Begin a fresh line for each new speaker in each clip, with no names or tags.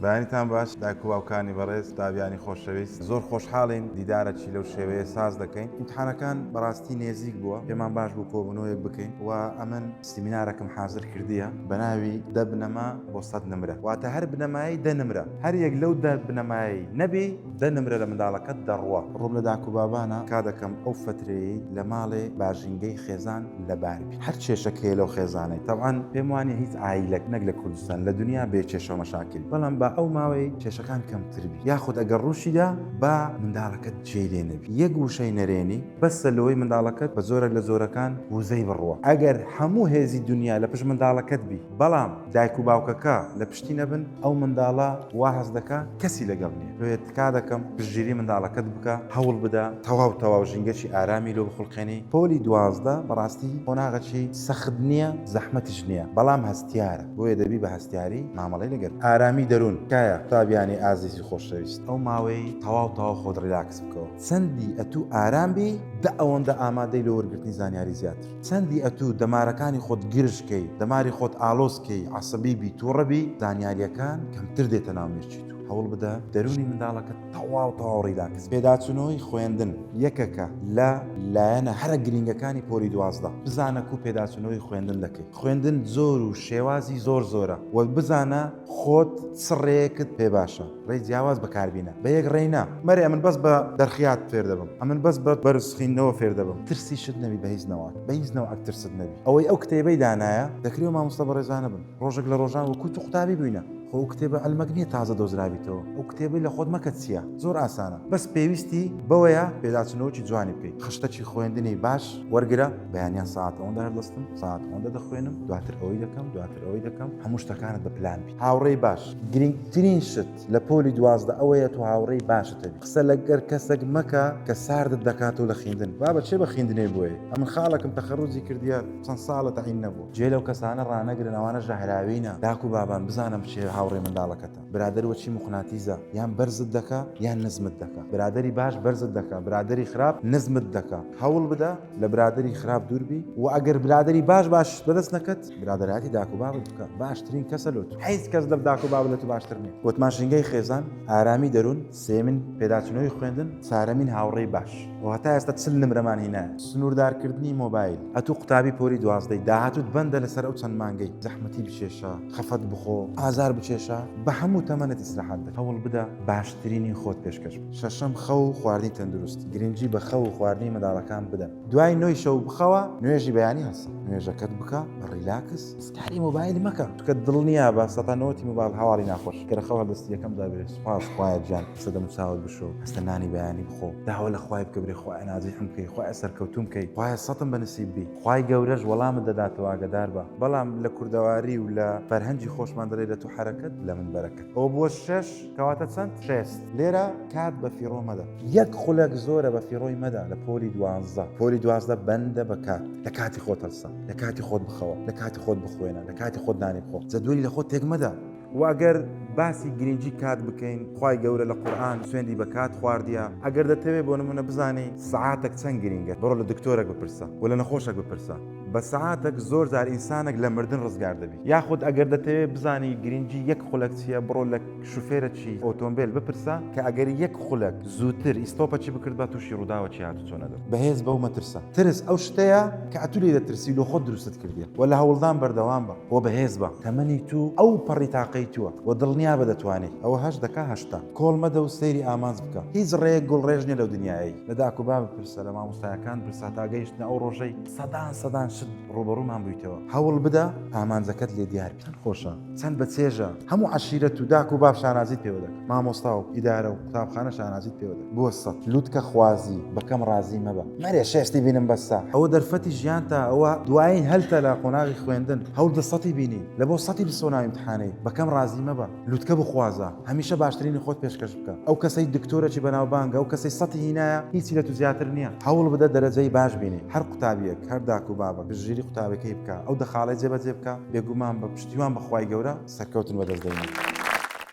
بەیانیتان باش دایک و باوکانی بەڕێز تابیانی خۆشەویست زۆر خۆشحاڵین دیدارەکی لەو شێوەیە ساز دەکەین ئیمتحانەکان بەڕاستی نێزیک بووە پێمان باش بوو کۆبنەوەیەک بکەین و ئەمن سیمینارەکم حازر کردیە بەناوی دە بنەما بۆ سەد نمرە واتە هەر بنەمایەی دە نمرە هەر یەک لەو دە بنەمایەی نەبی دە نمرە لە منداڵەکەت دەڕوا ڕووم لە داک و بابانە کا دەکەم ئەو فەترەیەی لە ماڵێ با ژینگەی خێزان لەبار بی. هەر کێشەک هەیە لەو خێزانەی تەبعەن پێم وانیە هیچ عایلەک نەک لە کوردستان لە دنیا بێ کێشە و مەشاکل بەڵام با ئەو ماوەی کێشەکان کەمتر بی یاخود ئەگەر ڕووشیدا با منداڵەکەت جێی لێ نەبی یەک وشەی نەرێنی بەسە لەوەی منداڵەکەت بە زۆرێک لە زۆرەکان وزەی بڕوە ئەگەر هەموو هێزی دنیا لە پشت منداڵەکەت بی بەڵام دایک و باوکەکە لە پشتی نەبن ئەو منداڵە وا هەست دەکا کەسی لەگەڵ نیە بێت تکا دەکەم پشتگیری منداڵەکەت بکە هەوڵ بدە تەواو تەواو ژینگەکی ئارامی لۆ بخولقێنی پۆلی دوازدە بەڕاستی قۆناغەکی سەخت نیە زەحمەتیش نیە بەڵام هەستیارە بۆیە دەبی بە هەستیاری مامەڵەی لەگەل بکەی ئارامی دەرون تکایە قوتابیانی ئازیزی خۆشەویست ئەو ماوەی تەواو تەواو خۆت ڕیلاکس بکەوە چەندی ئەتوو ئارام بی دە ئەوەندە ئامادەی لۆ وەرگرتنی زانیاری زیاتر چەندی ئەتوو دەمارەکانی خۆت گرژ کەی دەماری خۆت ئالۆز کەی عەسەبی بی توڕە بی زانیاریەکان کەمتر دێتە ناو مێشکی تۆ. هەوڵ بدە دەروونی منداڵەکە تەواو تەواو ڕیلاکس پێداچوونەوەی خوێندن یەکەکە لە لایەنە هەرە گرینگەکانی پۆلی دوازدە بزانە کو پێداچوونەوەی خوێندن دەکەیت خوێندن زۆر و شێوازی زۆر زۆرە وەک بزانە خۆت سڕێکت پێ باشە ڕێ جیاواز بەکاربینە بە یەک ڕێینا مەرێ ئەمن بەس بە دەرخیات فێر دەبم ئەمن بەس بە بەرزخینەوە فێر دەبم ترسی شت نەبی بە هیچ نەوە بە هیچ نەوە ئەکترست نەبی ئەوەی ئەو کتێبەی دانایە دەکری و مامۆستا بەڕێزانە بن ڕۆژێک لە ڕۆژان وەکوت و قوتابی بووینە خۆ ئەو کتێبە علمەک نیە تازە دۆزرابیتەوە ئەو کتێبەی لە خۆت مەکە چیە زۆر ئاسانە بەس پێویستی بەوەیە پێداچنەوەکی جوانی بکەیت خشتەکی خوێندنی باش وەرگرە بەیانیان ساعت ئەوەندە هەردەستم ساعت ئەوەندە دەخوێنم دواتر ئەوەی دەکەم دواتر ئەوەی دەکەم هەموو شتەکانت بە پلان بی هاوڕێی باش گرنگترین شت لە پۆلی دوازدە ئەوەیە تو هاوڕێی باشت هەبی قسە لەگەر کەسەک مەکە کە ساردت دەکاتەوە لە خیندن بابە چێ بە خیندنێ بۆیە ئەمن خاڵەکم تەخەروجی کردیە چەند ساڵە تەعین نەبوو. جێ لەو کەسانە ڕانەگرن ئەوانە ژەهراوینە داک و بابان بزانە بچێ هاوڕێ منداڵەکەتە برادەر وەچی موقناتیزە یان بەرزت دەکا یان نزمت دەکا برادەری باش بەرزت دەکا برادەری خراپ نزمت دەکا هەوڵ بدە لە برادەری خراپ دوور بی و ئەگەر برادەری باش باشت بەدەست نەکەت برادەرایەتی داک و بابت بکە باشترین کەسە لۆ تۆ هیچ کەس لە داک و باب لە تۆ باشتر نیە وەت ماشینگەی خێزان ئارامی دەروون سێیەمین، پێداچونەوەی خوێندن، چارەمین، هاوڕێی باش. خۆ هەتا ئێستا چل نمرەمان هی نایە. سنوردارکردنی مۆبایل، ئەتو قوتابی پۆلی دوازدەی، داهاتوت بەندە لەسەر ئەو چەند مانگەی، زەحمەتی بچێشە، خەفەت بخۆ، ئازار بچێشە، بەهەمو تەمەنت ئیسراحەت بکە، هەوڵ بدە باشترینی خۆت پێشکەش بکە. شەشەم، خەو و خواردنی تەندروست، گرنگی بە خەو و خواردنی منداڵەکان بدەن، دوای نۆی شەو بخەوە، نوێژی بەیانی هەڵسە، نوێژەکەت بکە بە ڕیلاکس، کاری موبایل مەکە کە دڵنیا بە سەتا نەوەتی موبایل هەواڵی ناخۆش کە خەڵ هەردەستی یەکەم دابێت سپاس خوایە گیان قسە دەم چاوت بشۆ هەستە نانی بەیانی بخۆ داوە لە خوای بکە برێ خوای نازی حم بکەی خوای سەرکەوتوم بکەی خوای سەتم بە نسیب بی خوای گەورەش وەڵامت دەداتەوە ئاگەدار بە بەڵام لە کوردەواری و لە فەرهەنگی خۆشمان دەڵێ لە تو حەرەکەت لە من بەرەکەت ئەوە بووە شەش کەواتە چەند شێست لێرە کات بە فیڕۆ مەدە یەک خولەک زۆرە بە فیڕۆی مەدە لە پۆلی دوانزدە پۆلی دوازدە بەندە بە کات لە کاتی خۆت هەڵسە. لە کاتی خۆت بخەوە لە کاتی خۆت بخوێنە لە کاتی خۆت نانی بخۆ جەدوەلی لە خۆت تێکمەدا واگەر باسی گرنگی کات بکەین خی گەورە لە قورآان سوێندی بە کات خواردە ئەگەر دەتەوێت بۆ نمونە بزانانی سعاتێک چەند گرنگە بڕۆ لە دکتۆرەك بپرسە و لە نەخۆشەك بپرسە بە سعاتێک زۆر جار ئینسانێک لە مردن ڕزگار دەبی یاخود ئەگەر دەتەوێت بزانی گرنگی یەک خولەک چییە بڕۆ لە شوفێرەکی ئۆتۆمبێل بپرسە کە ئەگەری یەک خولەک زووتر ئیستۆپەکی بکردبا تووشی ڕووداوەکی هاتوچۆ نەدەبوو. بەهێز بەو مەترسە. ترس ئەو شتەیە کە ئەتوو لێی دەترسی و لۆ خۆت دروستت کردیە و لە هەوڵدان بەردەوام بە و بەهێز بە. تەمەنی توو ئەو پەڕی تاقەی تووە و دڵنیا بە دەتوانیت. ئەوە هەشت دەکا هەشتا. کۆڵ مەدە و سەیری ئامانج بکە. هیچ ڕێیەک گوڵ ڕێژ نیە لەو دنیایەی. لە داک و باب بپرسە، لە مامۆستایەکان بپرسە هەتا گەیشتنە ئەو ڕۆژەی سەدان سەدان شت ڕووبەڕوومان بوویتەوە. هەوڵ بدە ئامانجەکەت لێ دیار بی. چەند خۆشە. چەند بە چێژە هەموو عشیرەت و داک و باب شانازیت پێوە دەکەن مامۆستا و ئیدارە و قوتابخانە شانازیت پێوە دەکەن بۆ سە لوتکە خوازی بەکەم ڕازی مەبە مەرێ شێستی بینم بەسە ئەوە دەرفەتی ژیان تا ئەوە دوایین هەلتە لە قۆناغی خوێندن هەوڵ دە سەتی بینی لە بۆ سەتی بسۆ ناویمتحانەی بەکەم ڕازی مەبە لوتکە بخوازە هەمیشە باشترینی خۆت پێشکەش بکە ئەو کەسەی دکتۆرەکی بەناوبانگە ئەو کەسەی سەتی هینایە هیچی لە تو زیاتر نییە هەوڵ بدە دەرەجەی باش بینی هەر قوتابیەک هەر داک و بابە گشتگیری قوتابەکەی بکە ئەو دەخاڵەی جێبەجێ بکە بێگومان بە پشتیوان بە خوای گەورە سەرکەوتن بەدەست دێنی.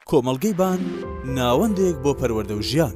کۆمەڵگەی
بان، ناوەندێک بۆ
پەروەردە و
ژیان.